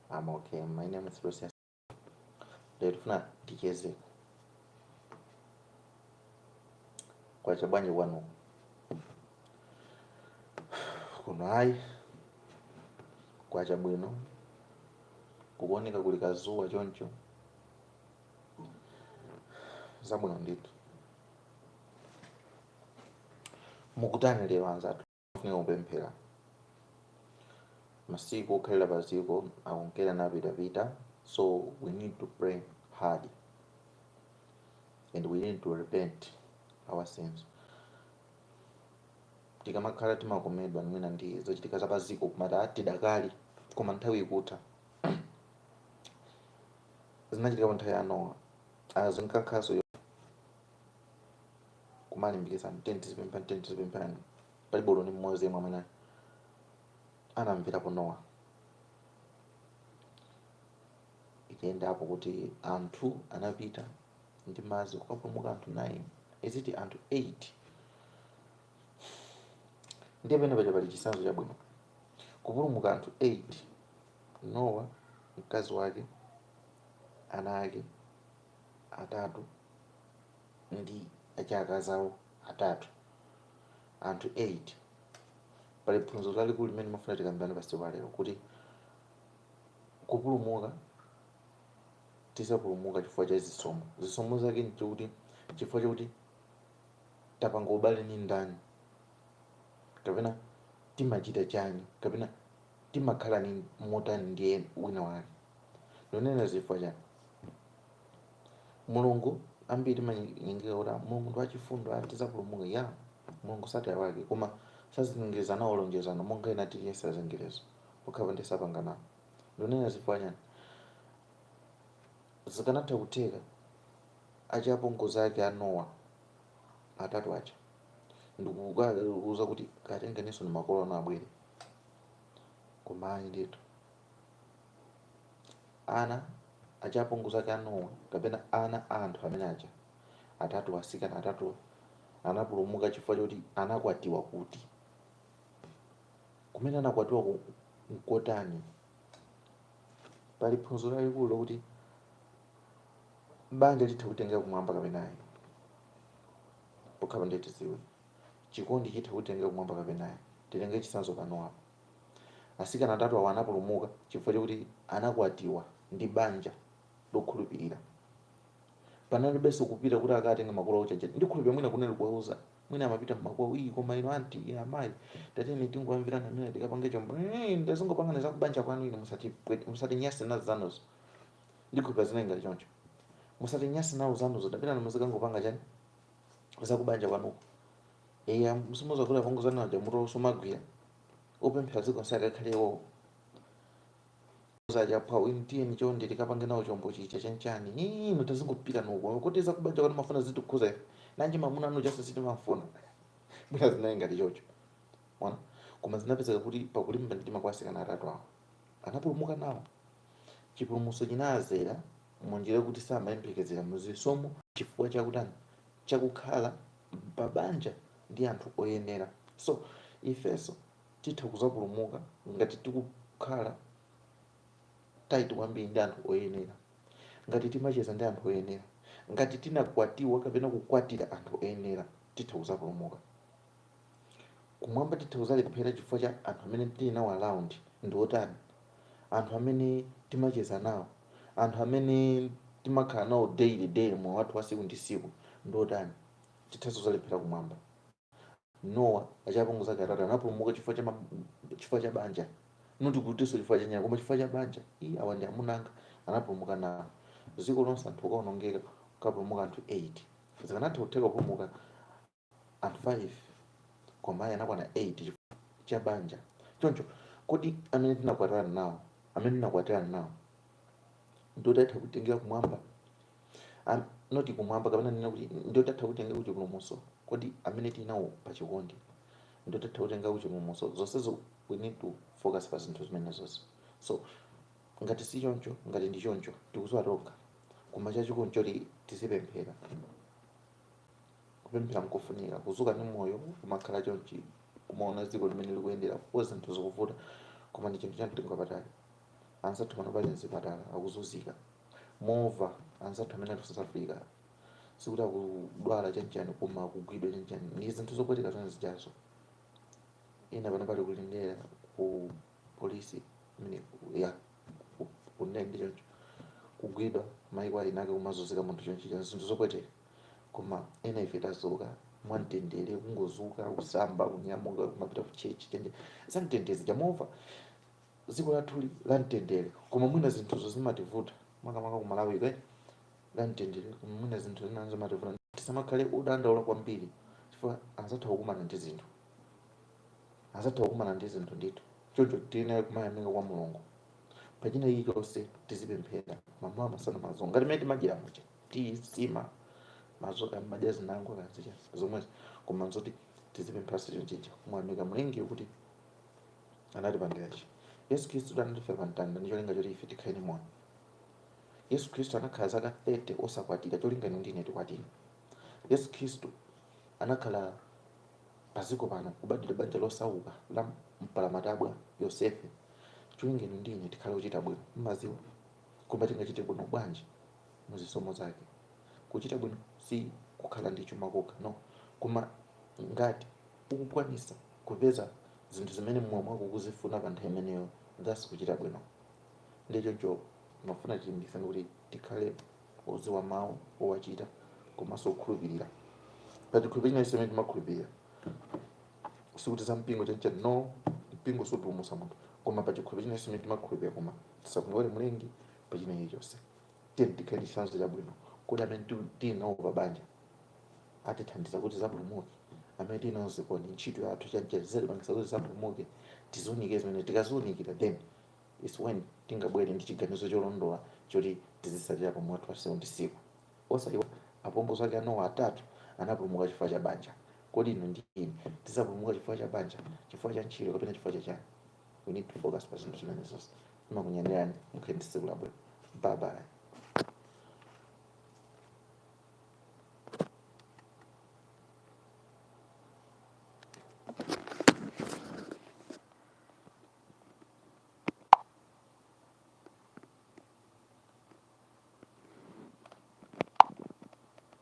I'm okay. My name is Lucius. Ndikufuna tichezeko. Kwacha bwanji kwanuko. Kuno ayi. Kwacha bwino. Kukuoneka kuli kazuwa choncho. Zabwino ndithu. Mukutani lero anzathu. Tifunika kupemphera. Masiku okhalira pa ziko akunkera napitapita so we need to pray hard and we need to repent our sins. Tikamakhala timakomedwa mwina ndi zochitika za pa ziko kumati ah tidakali koma nthawi ikutha. Zinachitika pa nthawi ya Nowa. Ah zinkakhanso kumalimbikitsana tiyeni tizipemphera tiyeni tizipemphera palibe olo ndi mmodzi yemwe amene anamverapo nowa itayendapo kuti anthu anapita ndi madzi kukapulumuka anthu 9 eti anthu 8 ndiye penepaja pali chisanzo chabwino kupulumuka anthu 8 nowa mkazi wake ana ake atatu ndi azikazi awo atatu, anthu 8. Pali phunziro lalikulu limene ndimafuna tikambirane pa tsiku la lero kuti kupulumuka tizapulumuka chifukwa cha chisomo. Chisomo chake osati chifukwa chakuti tapanga ubale ndi ndani kapena timachita chani kapena timakhala ni motani ndi en- wina wake. Ndikunena chifukwa chani? mulungu ambiri timanyengeka kuti "Ah, mulungu ndi wachifundo ah, tidzapulumuka ya mulungu sataya wake koma sazengereza nalo lonjezano monga ena tiliyesa chizengerezo pokhapa ndi sapanganawo ndikunena chifukwa chani zikanatha kutheka azipongozi ake a nowa atatu aja n'kuuza kuti katengeninso ndi makolo anu abwere koma ayi ndithu ana aja apongozi ake a Nowa kapena ana a anthu amene aja atatu asikana atatu anapulumuka chifukwa choti anakwatiwa kuti kumene anakwatiwa ku- nkotani pali phunziro lalikulu lokuti banja litha kutitengera kumwamba kapena ayi pokhala ndiye tidziwe chikondi chitha kutitengera kumwamba kapena ayi titenge chitsanzo pa Nowa apo Atsikana atatu awo anapulumuka chifukwa chakuti anakwatiwa ndi banja lokhulupirira. Panalibenso kupita kuti akatenge makolo awo chajani. Ndikhulupirira mwina kunali kuwauza, mwina amapita mmakwawo, ii koma inu anti, inu amayi, tatiyeni tingowamvirana mwina tikapange chombo, ii ndazingopangani za kubanja kwanu inu musatipwete, musatinyase nazo zanuzo. Ndikhulupirira zinali ngati choncho. Musatinyase nawo zanuzo, tapitani muzikangopanga chani za kubanja kwanuko. Eya, Si mudziwa kuti apongozi anu aja mutu sumagwira opemphera dziko nse akakhale iwowo zaja nthawi tiyeni chonde tikapange nawo chombo chija chanchani inu tazingopitani uko kuti zakubanja kuti mafuna zitikhuze ife nanji mamuna anu uja sitimafuna mwina zinali ngati choncho mwina koma zinapezeka kuti pakulimba mtima kwa asikana atatu awo anapulumuka nawo chipulumutso chinazera munjira yoti samayembekezera mu chisomo chifukwa chakutani cha kukhala pa banja ndi anthu oyenera. So, ifenso titha kuzapulumuka ngati tikukhala tight kwambiri ndi anthu oyenera, ngati timacheza ndi anthu oyenera, ngati tinakwatiwa kapena kukwatira anthu oyenera, titha kuzapulumuka. Kumwamba titha kuzalephera chifukwa cha anthu amene tili nawo around ndi otani, anthu amene timacheza nawo, anthu amene timakhala nawo daily daily moyo wathu wa siku ndi siku ndi otani, tithanso kuzalephera kumwamba. Nowa azipongozi ake atatu anapulumuka chifukwa cha ma, chifukwa cha banja not kutinso chifukwa cha nyama koma chifukwa cha banja iyi awa ndi amuna anga anapulumuka nawo dziko lonse anthu nkuonongeka nkupulumuka anthu 8 zikanatha kutheka kupulumuka anthu 5 koma ayi anakwana 8 chifukwa cha banja choncho kodi amene tinakwatirana nawo amene tinakwatirana nawo ndi otitha kutitengera kumwamba Am- not kumwamba kapena kunena kuti ndi otitha kutitengera kuchipulumutso kodi amene tili nawo pa chikondi ndi otitha kutitengera kuchipulumutso zonsezo we need to focus pa zinthu zimenezozo so ngati si choncho ngati ndi choncho tikuziwa tokha koma chachikulu nchoti tizipemphera kupemphera nkofunika kuzuka ndi moyo kumakhala chonchi kumaona dziko mmene likuyendera kaya zinthu zikuvuta koma ndi chinthu cha mtengo wapatali anzathu pano ali mzipatala akuzunzika mukumva anzathu amene ali ku south africa sikuti akudwala chanchani koma akugwidwa chanchani ndi zinthu zopweteka zone zijazo ena pano ali ku Lindela ku polisi imene ya ku- kunene ndi choncho kugwidwa maiko a eni ake kumazunzika munthu chonchija zinthu zopweteka koma ena ife tazuka mwamtendere kungozuka kusamba kunyamuka kumapita ku church ndi zamtendere zija mumamva dziko lathu li la mtendere koma mwina zinthuzo zimativuta makamaka ku Malawi kuno ndi la mtendere koma mwina zinthu zina zimativuta tisamakhale odandaula kwambiri chifukwa anzathu akukumana ndi zinthu anzathu akukumana ndi zinthu ndithu choncho tiyenera kumayamika kwa mulungu pachina chilichonse tizipemphera mamawa masana mazulo ngati mmene timadyera muja timamazuka mmadya zinangokhala zija zomwe koma nzoti tizipemphaso chonchicha kumuyamika mlengi kuti anatipangira chani yesu khristu anatifera pa mtanda ndi cholinga choti ife tikhale ndi moyo yesu khristu anakhala zaka 30 osakwatira cholinga inu ndine tikwatire yesu khristu anakhala paziko pano kubadwira banja losauka la mpalamatabwa yosefe cholinga inu ndine tikhale ochita bwino mmaziwa koma tingachite bwino bwanji mu zisomo zake kuchita bwino si kukhala ndi chuma kokha no koma ngati ukukwanisa kupeza zinthu zimene mmoyo mwako ukuzifuna pa nthawi imeneyo thats kuchita bwino ndiye choncho ndimafuna tilimbikitsane kuti tikhale odziwa mawu owachita komanso okhulupirira pa chikhulupiriro chilichonse chimene timakhulupirira sikuti za mpingo chanichani no mpingo sumapulumutsa munthu koma pa chikhulupiriro chilichonse chimene timakhulupirira koma tisamuiwale mlengi pa china chilichonse tiyeni tikhale chitsanzo chabwino kuti amene tu- tili nawo pa banja atithandiza kuti tizapulumuke amene tili nawo zikoni ntchito yathu chanjezere pangisa kuti tizapulumuke tiziunikire zimene tikaziunikira then its when tingabwere ndi chiganizo cholondola choti tizisatira pa moyo wathu wasiku ndi siku osaiwa apongozi ake a Nowa atatu anapulumuka chifukwa cha banja kodi inu ndi ine tizapulumuka chifukwa cha banja chifukwa cha ntchito kapena chifukwa cha chani we need to focus pa zinthu zimenezo Timakunyadirani, mukhale ndi tsiku labwino. Bye bye.